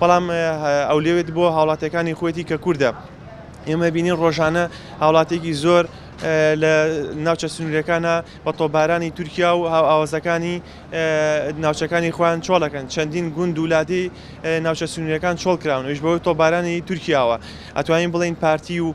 بەڵام ئەولەوێت بۆ هاوڵاتیەکانی خوێتی کە کوردە ئێمە بینین ڕۆژانە هاوڵاتێکی زۆر لە ناوچە سنوورەکانە بە تۆبارانی تورکیا و هاوئاوازەکانی ناوچەکانی خۆیان چۆڵەکەن چەندین گوند ولادی ناوچە سنوورەکان چۆڵکراون وش بەوەی تۆبارانی تورکیاوە ئەتوانین بڵین پارتی و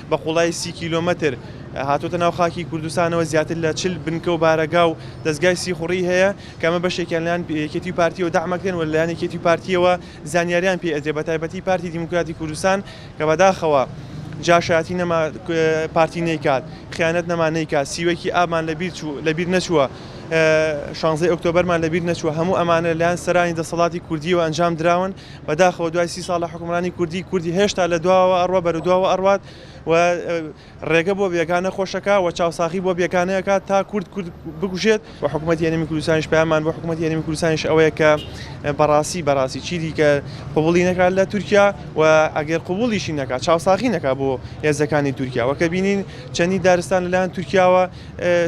بە قوڵایی سی کیلۆمەتر هاتووەتە ناو خاکی کوردستانەوە زیاتر لە چل بنکە و بارەگا و دەستگای سیخوڕی هەیە کە ئەمە بەشێکیان لەلایەن یەکێتی و پارتییەوە دەعمەکرێن و لەلایەن یەکێتی و پارتییەوە زانیاریان پێ ئەدرێ بە تایبەتی پارتی دیموکراتی کوردستان کە بەداخەوە جاشایەتی نەما پارتی نەیکات خیانەت نەما نەیکات سیوەکی ئابمان لەبیر چوو لەبیر نەچووە شانزەی ئۆکتۆبەرمان لەبیر نەچووە هەموو ئەمانە لەلایەن سەرانی دەسەڵاتی کوردیەوە ئەنجام دراون بەداخەوە دوای سی ساڵ لە حوکمڕانی کوردی کوردی هێشتا لە دواوە ئەڕوا بەرە دواوە ئەڕوات و ڕێگە بۆ بێگانە خۆشەکە و چاوساخی بۆ بێگانەیەکە تا کورد کورد بگوژێت و حکوومەت یەنەمی کوردستانیش پامان بۆ حکوومەت یەنەمی کوردستانیش ئەوەیە کە بەڕاستی بەڕاستی چیدی کە قوبڵی نەکات لە تورکیا و ئەگەر قوبڵیشی نەکات چاوساخی نەکات بۆ هێزەکانی تورکیا وەکە بینین چەندی دارستان لەلایەن تورکیاوە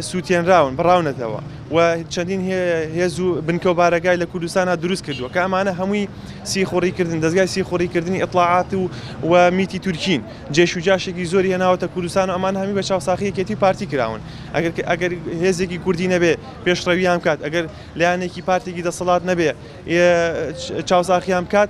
سووتێنراون، بڕاونەتەوە و چەندین هێز و بنکە و بارەگای لە کوردستانا دروست کردووە کە ئەمانە هەمووی سیخوڕی کردن دەستگای سیخوڕی کردنی ئیتڵاعات و و میتی تورکین جێش و جاشێکی زۆری هێناوەتە کوردستان و ئەمان هەمی بە چاوساخی یەکێتی و پارتی کراون ئەگەر کە ئەگەر هێزێکی کوردی نەبێ پێشڕەویان بکات ئەگەر لایەنێکی پارتێکی دەسەڵات نەبێ چاوساخیان بکات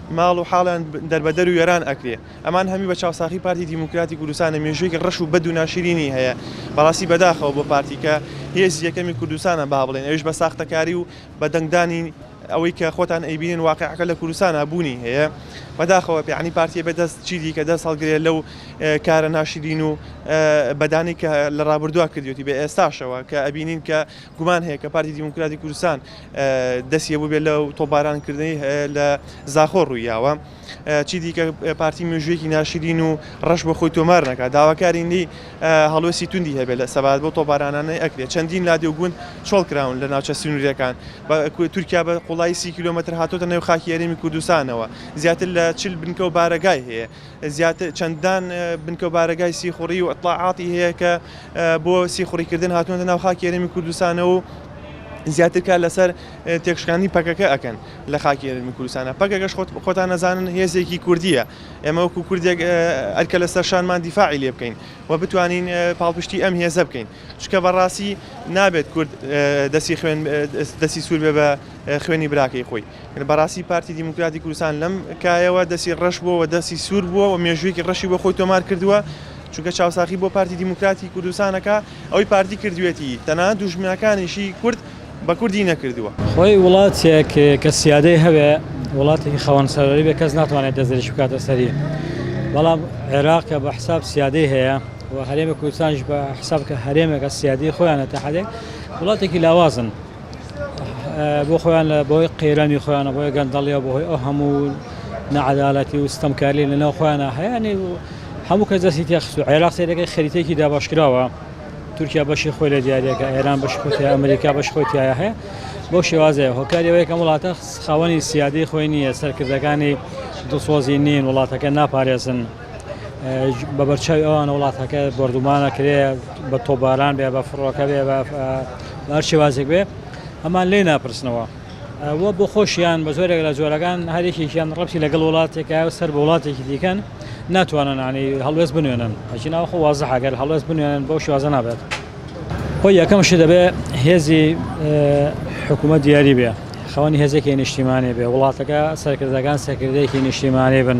ماڵ و حاڵیان دەربەدەر و وێران ئەکرێ. ئەمان هەمی بە چاوساخی پارتی دیموکراتی کوردستانە مێژوویەکی ڕەش و بەد و ناشرینی هەیە بەڕاستی بەداخەوە بۆ پارتی کە هێزی یەکەمی کوردستانە با بڵێن ئەویش بە ساختەکاری و بە دەنگدانی ئەوەی کە خۆتان ئەیبینن واقیعەکە لە کوردستانا بوونی هەیە بەداخەوە یانی پارتیە بێ دەست چی دیکە دەست هەڵگرێ لەو کارە ناشرین و بەدانەی کە لە ڕابردووا کردوێتی بە ئێستاشەوە کە ئەبینین کە گومان هەیە کە پارتی دیموکراتی کوردستان دەستی هەبووبێت لە تۆپبارانکردنی لە زاخۆ ڕوویاوە چی دیکە پارتی مێژوویەکی ناشرین و ڕەش بە خۆی تۆمار نەکە داواکارین لی هەڵوێستی توندی هەبێت لە سەبات بۆ تۆپبارانانەی ئەکرێت چەندین لادێ و گوند چۆڵ کراون لە ناوچە سنوورەکان بە تورکیا بە قوڵایی سی کیلومتر هاتۆتە نێو خاکی ئەرێمی کوردستانەوە زیاتر لە چل بنکە و بارەگای هەیە زیاتر چەندان بنکە و بارەگای سیخوڕی و ئیتڵاعاتی هەیە کە بۆ سیخوڕیکردن هاتوونەتە ناو خاکی هەرێمی کوردستانەوە و زیاتر کار لەسەر تێکشکاندنی پەکەکە ئەکەن لە خاکی هەرێمی کوردستانە پەکەکەش خۆتان نەزانن هێزێکی کوردیە ئێمە وەکو کوردێک ئەرکە لەسەر شانمان دیفاعی لێ بکەین و بتوانین پاڵپشتی ئەم هێزە بکەین چکە بەڕاستی نابێت کورد دەسی خوێن دەسی سوور بێ بە خوێنی براکەی خۆی بەڕاستی پارتی دیموکراتی کوردستان لەم کایەوە دەستی ڕەش بووە و دەستی سوور بووە و مێژوویەکی ڕەشی بۆ خۆی تۆمار کردووە چونکە چاوساخی بۆ پارتی دیموکراتی کوردستانەکە ئەوی پارتی کردوێتی تەنها دوژمنەکانیشی کورد بە کوردی نەکردووە. خۆی وڵاتێک کە سیادەی هەبێ وڵاتێکی خاوەن سەروەری بێ کەس ناتوانێت دەستدرێژی بکاتە سەری بەڵام عێراق کە بە حساب سیادەی هەیە و هەرێمی کوردستانیش بە حساب کە هەرێمێکە سیادی خۆیانە تا حدێک وڵاتێکی لاوازن. بۆ خۆیان لە بۆی قەیرانی خۆیانە بۆی گەندەڵیە بۆهۆی ئەو هەموو نەعادالەتی و ستەمکاری لە ناو خۆیانە هەیەێ و هەموو کە دەستی تێخست و عێراق سێدەکەی خەریتێکی داباشکراوە تورکیا بەشی خۆی لە دیارەکە ئێران بەش خۆتی ئەمریکا بەش خۆتیایە هەیە بۆ شێوازەیە هۆکاریەوەی کەم وڵاتە خاوەنی سیادی خۆی نییە سەرکردەکانی دڵسۆزی نین وڵاتەکە ناپارێزن. بەبەرچاوی ئەوانە وڵاتەکە بردومانە کرێ بە تۆباران بێ بە فڕۆکە بێ بە ئەرشێوازێک بێ ئەمان لێ ناپرسنەوە وە بۆ خۆشیان بە زۆرێک لە جۆرەکان هەرێکێکیان ڕەتی لەگەڵ وڵاتێکە سەر بە وڵاتێکی دیکەن ناتوانانانی هەڵوێست بنوێنن ئەچی ناوە خۆ وازە هەگەر هەڵوێست بنوێنن بۆ شوازە نابێت خۆ یەکەم شی دەبێ هێزی حکوومەت دیاری بێ خەوانی هێزێکی نیشتیمانێ بێ وڵاتەکە سەرکردەکان سەکردەیەکی نیشتیمانێ بن